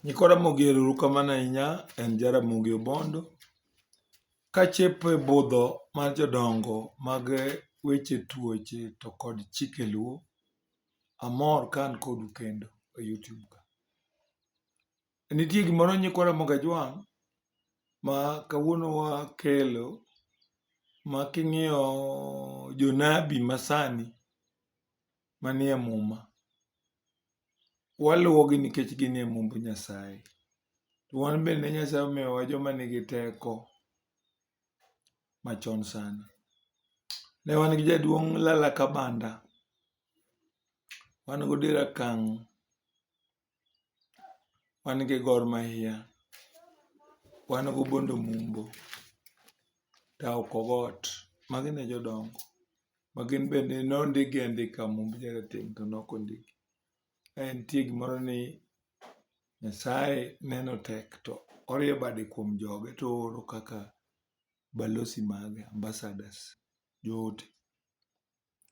Nyikwa Ramogi erourukamano ahinya, en Jaramogi Obondo. Kachepo e budho mar jodongo mag weche tuoche to kod chike luo, amor ka an kodu kendo e YouTube ka. Nitie gimoro nyikwa Ramogi Ajwang' ma kawuono wakelo ma king'iyo jonabi masani manie Muma. Waluwogi nikech ginie Mumb Nyasaye. To wan bende Nyasaye omiyowa joma nigi teko machon sana. Ne wan gi jaduong' Lala Kabanda, wan gi Odira Kang', wan gi Gor Mahia, wan gi Obondo Mumbo, Tao Kogot, magi ne jodongo ma gin bende ne ondikgi andika Mumb Jarateng' to ne ok ondikgi. Ka nitie gimoro ni Nyasaye neno tek to orieyo bade kuom joge to ooro kaka balozi mage, ambassadors, joote.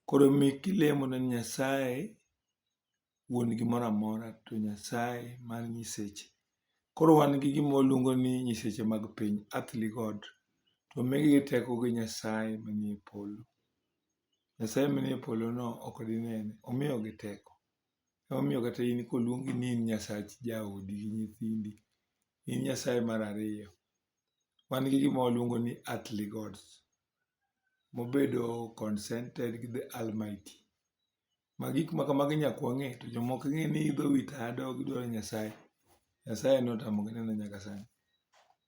Koro mi kilemo ne Nyasaye wuon gimoro amora to Nyasaye mar nyiseche. Koro wan gi gima waluongo ni nyiseche mag piny, earthly God. To omigi gi teko gi Nyasaye manie polo. Nyasaye manie polo no ok dinene, omiyogi teko. Emomiyo kata in koluongi ni in Nyasach jaodi gi nyithindi, in Nyasaye mar ariyo. Wan gi gima waluongo ni earthly Gods. mobedo consented gi the almighty. Ma gik ma kamago nyaka wang'e to joma ok ng'e ni idho wi tado gi dwaro Nyasaye, Nyasaye notamogi neno nyaka sani.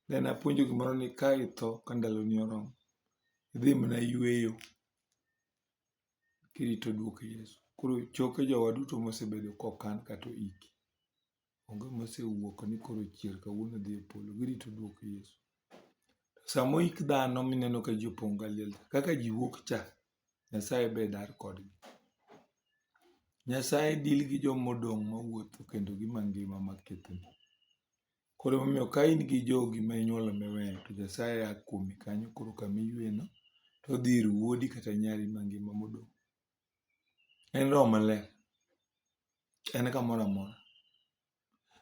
Ne apuonjo gimoro ni ka itho ka ndaloni oromo, idhi mana yweyo kirito duok Yesu. Koro choke jowa duto mosebedo kokan kata oiki. onge mosewuok ni koro chier kawuono odhi e polo. Girito duok Yesu. Sama oik dhano mineno ka ji opong' ka liel, kaka ji wuok cha, Nyasaye be dar kodgi. Nyasaye deal gi joma odong' mawuotho kendo gi mangima ma kethni. Koro emomiyo ka in gi jogi ma inyuolo miweyo to Nyasaye a kuomi kanyo koro kama iyueyeno to odhi ir wuodi kata nyari mangima modong'. en roho maler en kamoro amora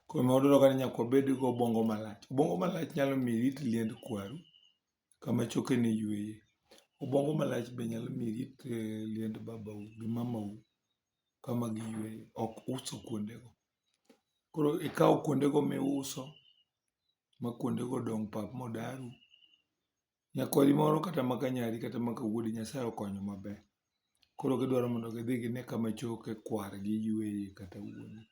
koro ma wadwaro ka ni nyaka wabed gi obongo malach obongo malach nyalo miyo irit liend kwaru kama chokeni yueye obongo malach be nyalo miyo irit eh, liend babau gi mamau kama giyueye ok uso kuondego koro ikawo kuondego miuso ma kuondego dong' pap modaru nyakwari moro kata maka nyari kata maka wuodi Nyasaye okonyo maber. Koro gidwaro mondo gidhi gine kama choke kwargi yueye kata wuone.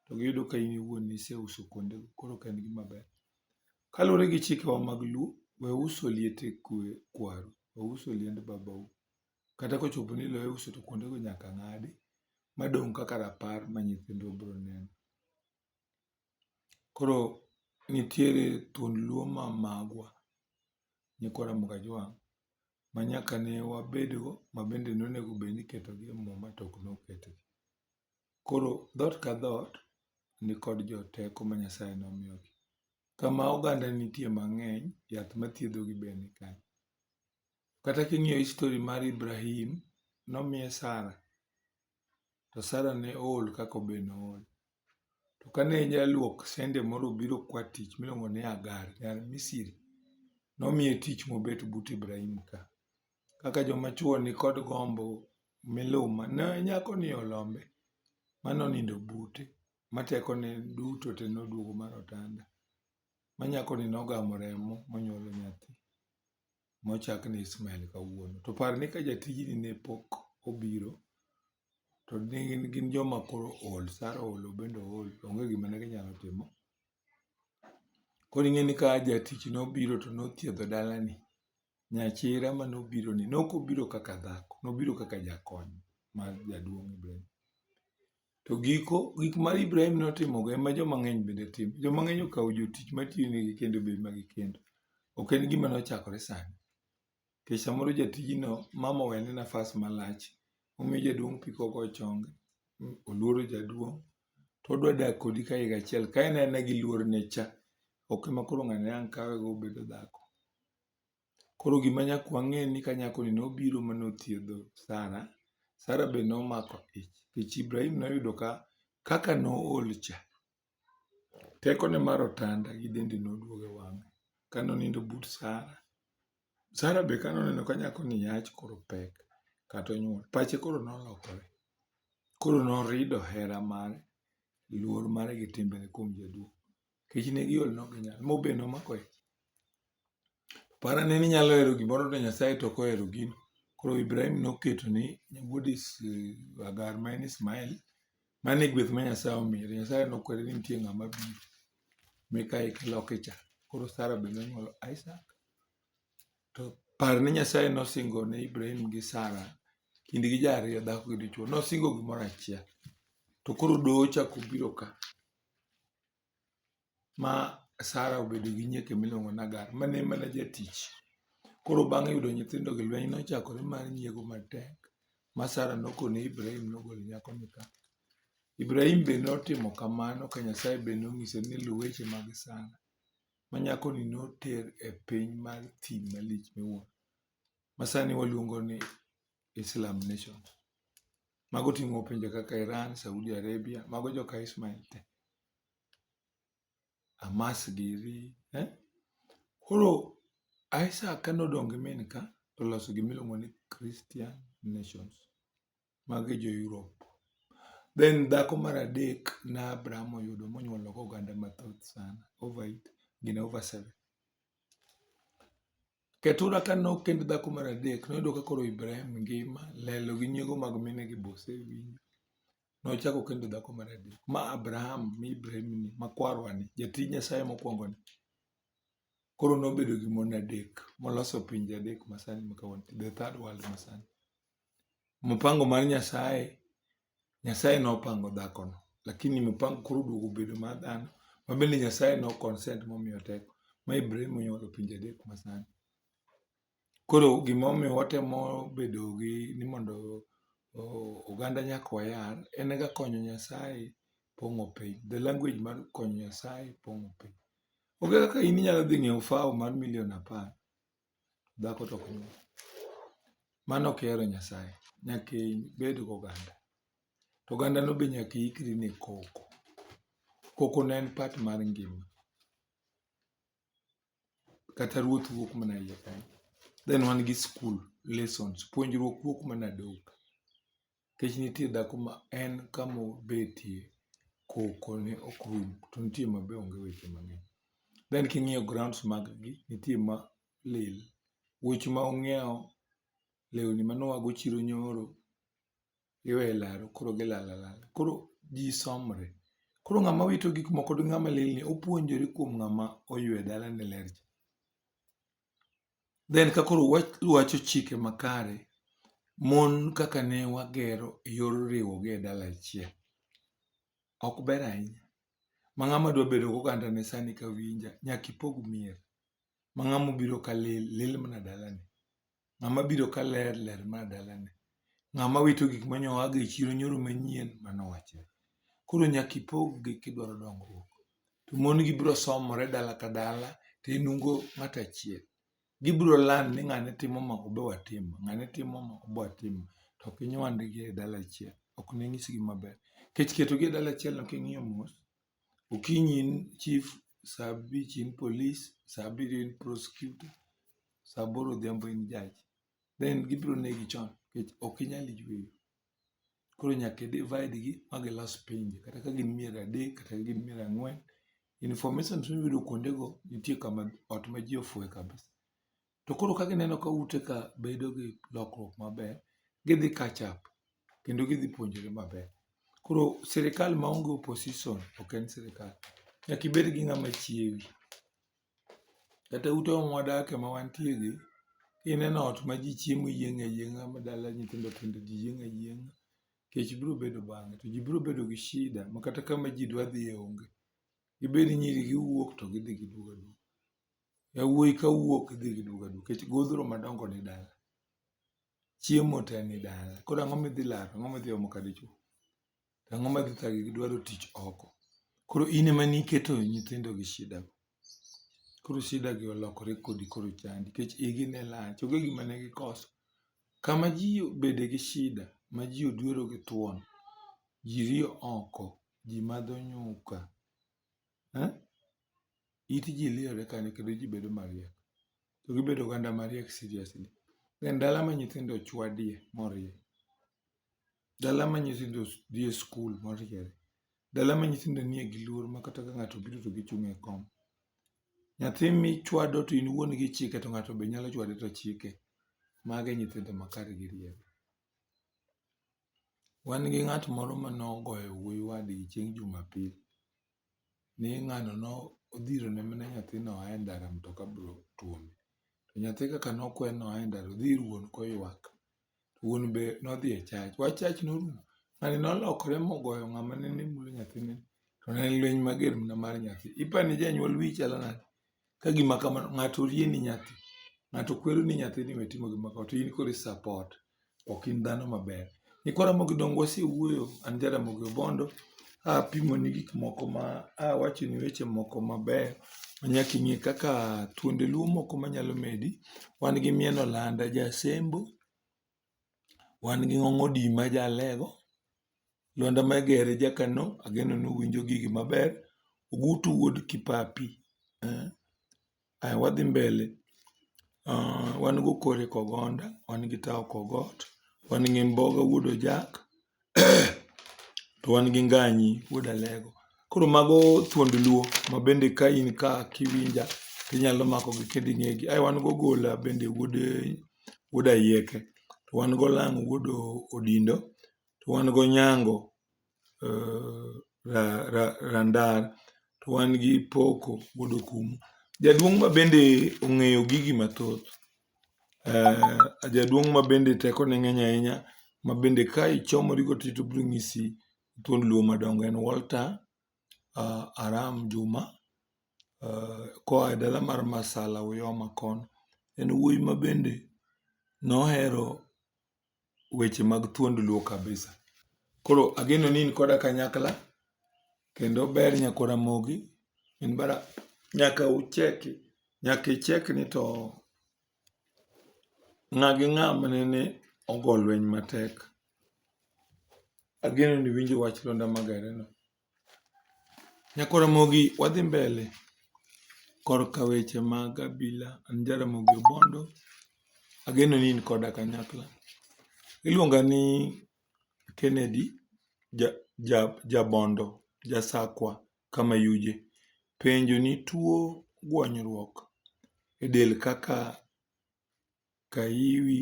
To giyudo ka in iwuon niseuso kuonde go koro ok en gima ber. Kaluwore gi chikewa mag Luo, we uso liete kwe kwaru, we uso liend babau. Kata kochopo ni lo iuso to kuonde go nyaka ng'adi ma dong' kaka rapar ma nyithindwa bro neno. Koro nitiere thuond luo ma magwa, nyikwa Ramogi Ajwang' ma nyaka ne wabedgo ma bende nonego bed ni iketogi e muma to ok noketgi. Koro dhoot ka dhoot nikod joteko ma Nyasaye nomiyogi. Kama oganda nitie mang'eny, yath mathiedhogi be ni kanyo. Kata king'iyo histori mar Ibrahim, nomiye Sara, to Sara ne ool kaka obe nool. To kane jaluok sende moro obiro kwa tich miluongo ni Agar, nyar Misri, nomiye tich mobet but Ibrahim ka. Kaka joma chwo nikod gombo miluma, ne nyakoni olombe ma nonindo bute, ma tekone duto te noduogo mar otanda, ma nyakoni nogamo remo monyuolo nyathi. mochak ni Ismael kawuono. To par ni ka jatijni ne pok obiro, to ne gin, gin joma koro ool, Sara ool, obende ool, onge gima ne ginyalo timo. Koro ing'e ni ka jatich nobiro to nothiedho dalani, nyachira ma nobironi, ne ok obiro kaka dhako, nobiro kaka jakony mar jaduong' Ibrahim. To giko gik ma Ibrahim notimogo ema joma ng'eny bende timo. Joma ng'eny okawo jotich matiyonegi kendo bedo magi kendo. Ok en gima nochakore sani. Nikech samoro jatijno mama owene nafas malach, omiyo jaduong' pi kogo chonge, oluoro jaduong', to odwa dak kodi ka higa achiel. Ka en aena gi luorne cha, ok ema koro ng'ani ang' kawego obedo dhako. Koro gima nyaka wang'e ni ka nyako ni nobiro ma nothiedho Sara, Sara be nomako ich. Nikech Ibrahim noyudo ka kaka nool cha, teko ne mar otanda gi dende noduogo e wang'e. Ka nonindo but Sara, Sara be ka noneno ka nyako ni yach koro pek kata onyuol, pache koro nolokore. Koro norido hera mare, luor mare gi timbe ne kuom jaduong'. nikech ne giol ne ok ginyal. Mo be nomako ich. Par ane ni inyalo hero gimoro to Nyasaye to ok ohero gino. Koro Ibrahim noketo ni wuod Hagar ma en Ismael, mano e gweth ma Nyasaye omiye. To Nyasaye nokwere ni nitie ng'ama biro meka eka loke cha. Koro Sara be nonyuolo Isak. To par ni Nyasaye nosingo ne Ibrahim gi Sara kindgi ji ariyo dhako gi dichwo. Nosingo gimoro achiel. To koro doho ochako obiro ka. ma Sara obedo gi nyieke miluongo ni Hagar ma ne en mana jatich. Koro bang' yudo nyithindogi, lweny nochakore mar nyiego matek ma Sara nokone Ibrahim nogol nyakoni ka. Ibrahim be notimo kamano ka Nyasaye be nonyise ni luw weche mag Sara ma nyakoni noter e piny mar thim malich miwuoro ma sani waluongo ni Islam nation. Mago ting'o pinje kaka Iran, Saudi Arabia, mago joka Ismail te. Hamas giri, eh? Koro Isaac ka nodong' gi min ka to oloso gima iluongo ni Christian nations. Magi jo Europe. Then dhako mar adek na Abraham oyudo monyuolo oganda mathoth sana. Over it, gin over seven. Ketura ka nokend dhako mar adek, noyudo ka koro Ibrahim ngima, lelo gi nyiego mag mine gi bose winjo. Nochako kendo dhako mar adek, ma Abraham, mi Ibrahim ni, ma kwarwa ni, jatij Nyasaye mokwongo ni. Koro nobedo gi mon adek, moloso pinje adek masani ma kawuono, the third world masani. Mpango mar Nyasaye Nyasaye nopango dhakono lakini mopango koro oduogo obedo mar dhano ma bende Nyasaye no consent momiyo teko ma Ibrahim onyuolo pinje adek masani. Koro gimomiyo watemo bedo gi ni mondo oganda nyaka wayal en ga konyo Nyasaye pong'o piny. The language mar konyo Nyasaye pong'o piny. Onge kaka in inyalo dhi ng'iewo fawo mar milion apar Dhako to ok nyuol. Mano ok hero Nyasaye. Nyaka ibed gi oganda. To oganda no be nyaka iikri ne koko. Koko ne en part mar ngima. Kata ruoth wuok mana e iye kanyo. Then wan gi skul, lessons. Puonjruok wuok mana dhoho ka. Nikech nitie dhako ma en kamobetie koko ne ok rum to nitie ma be onge weche mang'eny. Then king'iyo grounds mag gi, nitie ma lil. Wuoch ma ung'iewo, lewni mane uago chiro nyoro, iwe e laro koro gilal alal. Koro ji somre, koro ng'ama wito gik moko gi ng'ama lelni opuonjore kuom ng'ama oywe dalane ler cha. then ka koro wacho chike makare, mon kaka ne wagero e yor riwogi e dala achiel, ok ber ahinya. Ma ng'ama dwa bedo gi oganda ne sani ka winja, nyaka ipog mier. Ma ng'ama obiro ka lil, lil mana dalane. Ng'ama biro ka ler, ler mana dalane. Ng'ama wito gik ma nyo oago e chiro nyoro manyien mano wachre. Koro nyaka ipog gi kidwaro dongruok. To mon gi biro somore dala ka dala to enungo ng'ato achiel. Gibiro land ni ng'ane timo ma obe watim, ng'ane timo ma obe watim. To ok inywandgi e dala achiel, ok ninyisgi maber. Kech ketogi e dala achielno king'iyo mos, okinyi in chief, sa abich in polis, sa abiriyo in prosecutor, sa aboro odhiambo in judge. then gibiro negi chon nikech ok inyal yweyo. Koro nyaka i divide gi ma gilos pinje kata ka gin mier adek kata ka gin mier ang'wen. Informations miyudo kuonde go nitie kama ot ma ji ofue kabisa. To koro ka gineno ka ute ka bedo gi lokruok maber, gidhi catch up kendo gidhi puonjore maber. Koro sirikal ma onge opposition ok en sirikal. Nyaka ibed gi ng'ama chiewi. Kata ute mwadakie ma wantie gi, kineno ot ma ji chiemo yieng' ayieng'a ma dala nyithindo tindo ji yieng' ayieng'a, kech biro bedo bang'e. To ji biro bedo gi shida ma kata kama ji dwa dhiye onge. Dibed ni nyiri gi wuok to gidhi giduogo aduoga. Yawuoyi ka wuok gidhi giduogo aduoga nikech godhro madongo ni dala. Chiemo te ni dala, koro ang'o midhi laro, ang'o midhi omo ka dichwo? to ang'o madhi thagi gidwaro tich oko. Koro in ema niketo nyithindo gi shida go. Koro shida gi olokore kodi koro chandi nikech igi ne lach onge gima ne gikoso. Kama ji obede gi shida ma ji odwero gi thuon, ji riyo oko, ji madho nyuka, it ji liyore kanyo kendo ji bedo mariek. To gibedo oganda mariek seriously. En dala ma nyithindo ochwadie morie. Dala ma nyithindo dhie skul moriere. Dala ma nyithindo nie gi luor ma kata ka ng'ato obiro to gichung' e kom. Nyathi michwado to in wuon gi ichike to ng'ato be nyalo chwade to chike. Mago e nyithindo ma kare gi rieko. Wan gi ng'at moro mane ogoyo wuoyi wadgi chieng' jumapil. ni ng'ano ne odhiro ne mine nyathi ni oa e ndara mtoka be otuome. To nyathi kaka ne okwe ni oa e ndara odhi ir wuon koywak. Wuon be ne odhi e church. Wach church ne orumo. Ng'ani ne olokore mogoyo ng'ama nende mulo nyathini. To ne en lweny mager mana mar nyathi. Ipani janyuol wiyi chalo nade? ka gima kamano ng'ato orie ni nyathi, ng'ato kwero ni nyathi ni we timo gima kamano to in koro i support. Ok in dhano maber. Nyikwa Ramogi Dongo wasewuoyo, an Jaramogi Obondo, apimoni gik moko ma awachoni weche moko mabeyo ma nyaka ing'e kaka thuonde luo moko manyalo medi. Wan gi Mieno Landa ja Asembo, Wan gi ng'ong odima e jalego, Lwanda Magere e jakano ageno ni uwinjo gigi maber. Ogutu wuod Kipapi, aya wadhi mbele. Wan gi Okori Kogonda, wan gi Tao Kogot, wan gi Mboga wuod Ojak, to wan gi nganyi wuod alego. Koro mago thuond luo ma bende ka in ka kiwinja tinyalo mako gi kendo ing'egi. Ae wan gi ogola bende wuod ayieke, to wan gi olango wuod odindo, to wan gi onyango randar, to wan gi poko wuod okumu. Jaduong' ma bende ong'eyo gigi mathoth. Jaduong' ma bende teko ne ng'eny ahinya ma bende ka ichomori go to obiro nyisi thuond Luo madongo en Walter Aram Juma koa e dala mar Masala Uyoma kono. En wuoyi ma bende nohero weche mag thuond Luo kabisa. Koro ageno ni in koda kanyakla kendo ber nyako Ramogi in bara nyaka ucheki nyaka icheki ni to ng'a gi ng'a manene ogo lweny matek. Ageno ni iwinjo wach Lwanda Magareno. Nyako Ramogi wadhi mbele korka weche mag abila. An ja Ramogi Obondo, ageno ni in koda kanyakla. Iluonga ni Kennedy Jabondo Jasakwa Kamayuje. Penjo ni tuo gwonyruok e del kaka Ka iwi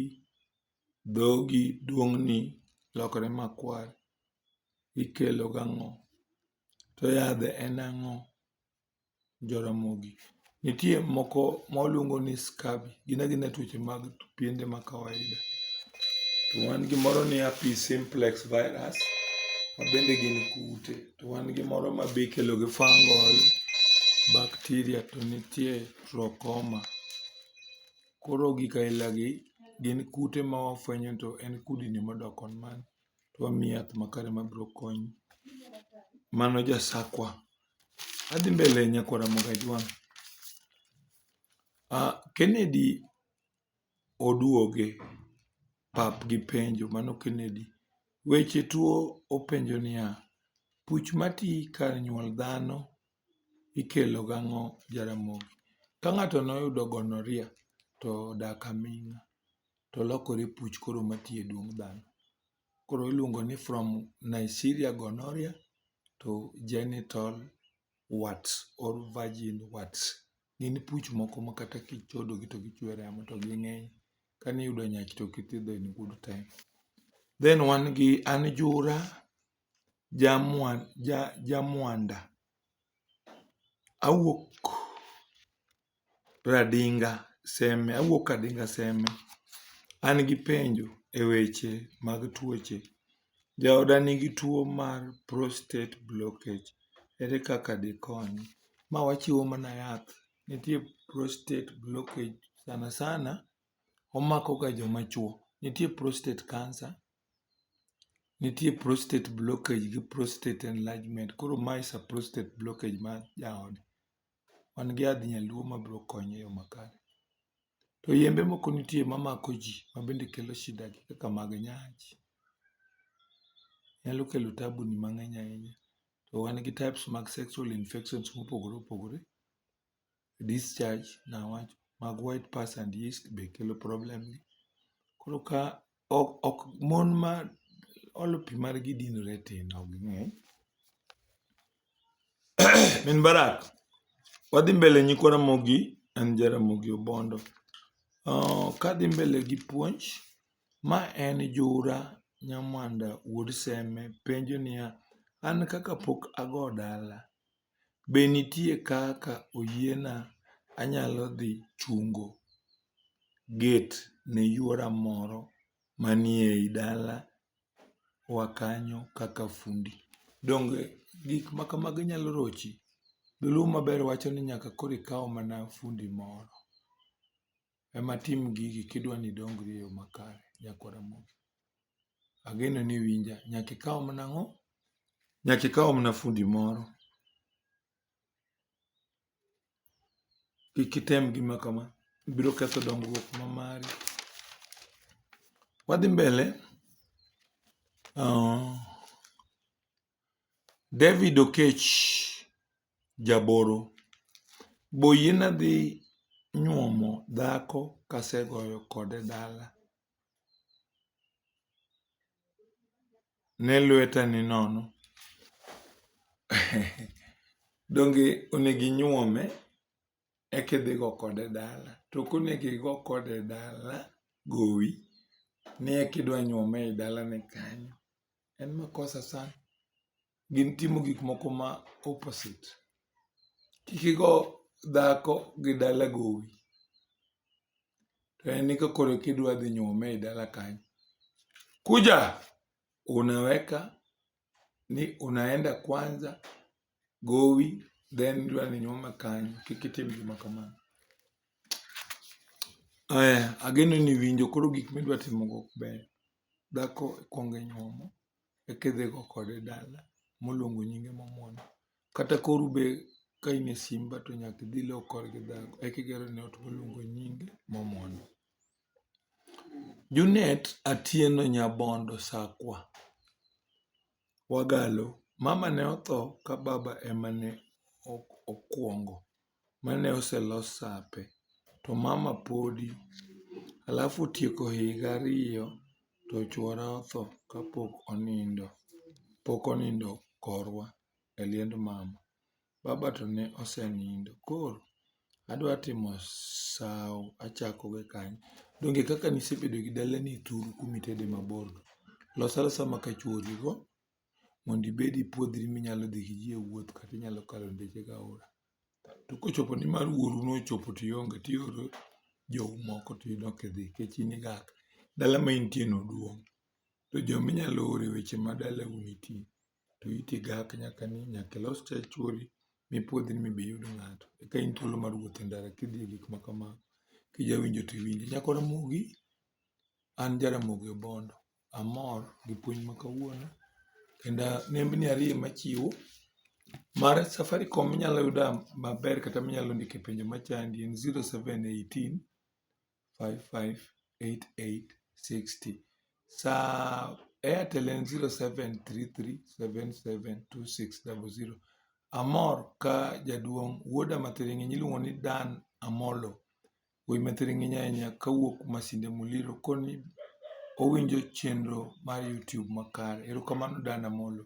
dhogi duong'ni lokore makwar ikelo gi ang'o? To yadhe en ang'o Jaramogi? Nitie moko ma waluongo ni scurvy gin agina tuoche mag piende ma kawaida. To wan gi moro ni herpes simplex virus ma bende gin kute. To wan gi moro ma be ikelo gi fungal bacteria to nitie trachoma. Koro gik aila gi gin kute ma wafwenyo to en kudni modok koni man to wamiyi yath makare ma biro konyi. Mano ja sakwa. Adhi mbele nyakwa Ramogajwang'. Ah, Kennedy oduoge pap gi penjo, mano Kennedy. Weche tuo openjo niya, puch mati kar nyuol dhano Ikelo gang'o Jaramogi? Ka ng'ato noyudo gonorrhea to odak aming'a to olokore puch koro mati e duong' dhano. Koro iluongo ni from Neisseria gonorrhea to genital warts or virgin warts. Gin puch moko ma kata kichodo gi to gichwe remo to ging'eny. Ka niyudo nyach to ok ithiedho in good time. Then wan gi anjura. Jamwanda, awuok Radinga Seme, awuok Radinga Seme. An gi penjo e weche mag tuoche. Jaoda nigi tuo mar prostate blockage, ere kaka dikonye? Ma wachiwo mana yath, nitie prostate blockage sana sana omako ga joma chuo. Nitie prostate cancer. Nitie prostate blockage gi prostate enlargement. Koro ma is a prostate blockage mar jaode. Wan gi yadh nyaluo ma biro konye e yo makare. To yembe moko nitie ma mako ji ma bende kelo shida gi kaka mag nyach. Nyalo kelo tabu ni mang'eny ahinya. To wan gi types mag sexual infections mopogore opogore. discharge niwach mag white pass and yeast be kelo problem ni. Koro ka ok ok mon ma olo pi margi dinore tin ok ging'eny. Min Barak, wadhi mbele nyikwa Ramogi en ja Ramogi Obondo. Uh, kadhi mbele gi puonj, ma en Jura Nyamwanda wuod Seme penjo niya, an kaka pok ago dala, Be nitie kaka oyiena anyalo dhi chungo get ne yuora moro manie i dalawa kanyo kaka fundi? Donge gik ma kamago nyalo rochi? Dholuo maber wacho ni nyaka koro ikaw mana fundi moro. ema tim gigi kidwa ni idongri e yo makare Nyako Ramogi. Ageno ni iwinja. Nyaka ikaw mana ang'o? Nyaka ikaw mana fundi moro. Kik item gima kama, ibiro ketho dongruok ma mari. Wadhi mbele. Uh, David Okech jaboro, Be oyiena dhi nyuomo dhako kasegoyo kode dala? Ne lweta ni nono. Donge onego inyuome eka idhi go kode dala? To ok onego igo kode dala gowi ni eka idwa nyuome e dalani kanyo. en makosa sana gin timo gik moko ma opposite kik igo dhako gi dala gowi to en ni kakoro kidwa dhi nyuome e dala kanyo kuja unaweka ni unaenda kwanza gowi then idwa ni nyuoma kanyo kik itim gima kamano eh ageno ni winjo koro gik midwa timo go ok ber dhako ikwongo inyuomo eka idhi go kode dala moluongo nyinge momwon kata koro be ka in e simba to nyaka idhi low kor gi dhako eka igero ne ot moluongo nyinge momwon Junet Atieno Nyabondo Sakwa Wagalo, Mama ne otho ka baba ema ne okuongo mane oselos sape to mama podi alafu otieko higa ariyo to chuora otho kapok onindo korwa e liend mama. Baba to ne osenindo. Koro adwa timo sawo achako gi kanye. Donge kaka ne isebedo gi dalani e thuru kuma itede mabor no. Los alosa ma ka chuori go mondo ibed ipuodhri minyalo dhi gi ji e wuoth kata inyalo kalo ndeche gi aora. To kochopo ni mar wuoru no ochopo to ionge to ioro jou moko to in ok idhi nikech in igak. Dala ma intie no duong' to jominyalo ore weche ma dalau nitie. to iti igak nyaka ni nyaka ilos tach chuori mipuodhi ni mondo iyud ng'ato. Eka in thuolo mar wuotho e ndara kidhi e gik ma kamago. Kija winjo to iwinjo. Nyako Ramogi, an ja Ramogi Obondo. Amor gi puonj ma kawuono. Kendo nembni ariyo ema achiwo. Mar Safaricom minyalo yuda maber kata minyalo ndike penjo machandi en 0718 558860. Sa Airtel en 0733772600. Amor ka jaduong' wuoda mathiring'iny iluongo ni Dan Amolo. Wuoyi mathiring'iny ahinya kawuok Masinde Muliro koni owinjo chenro mar YouTube makare. Erokamano Dan Amolo.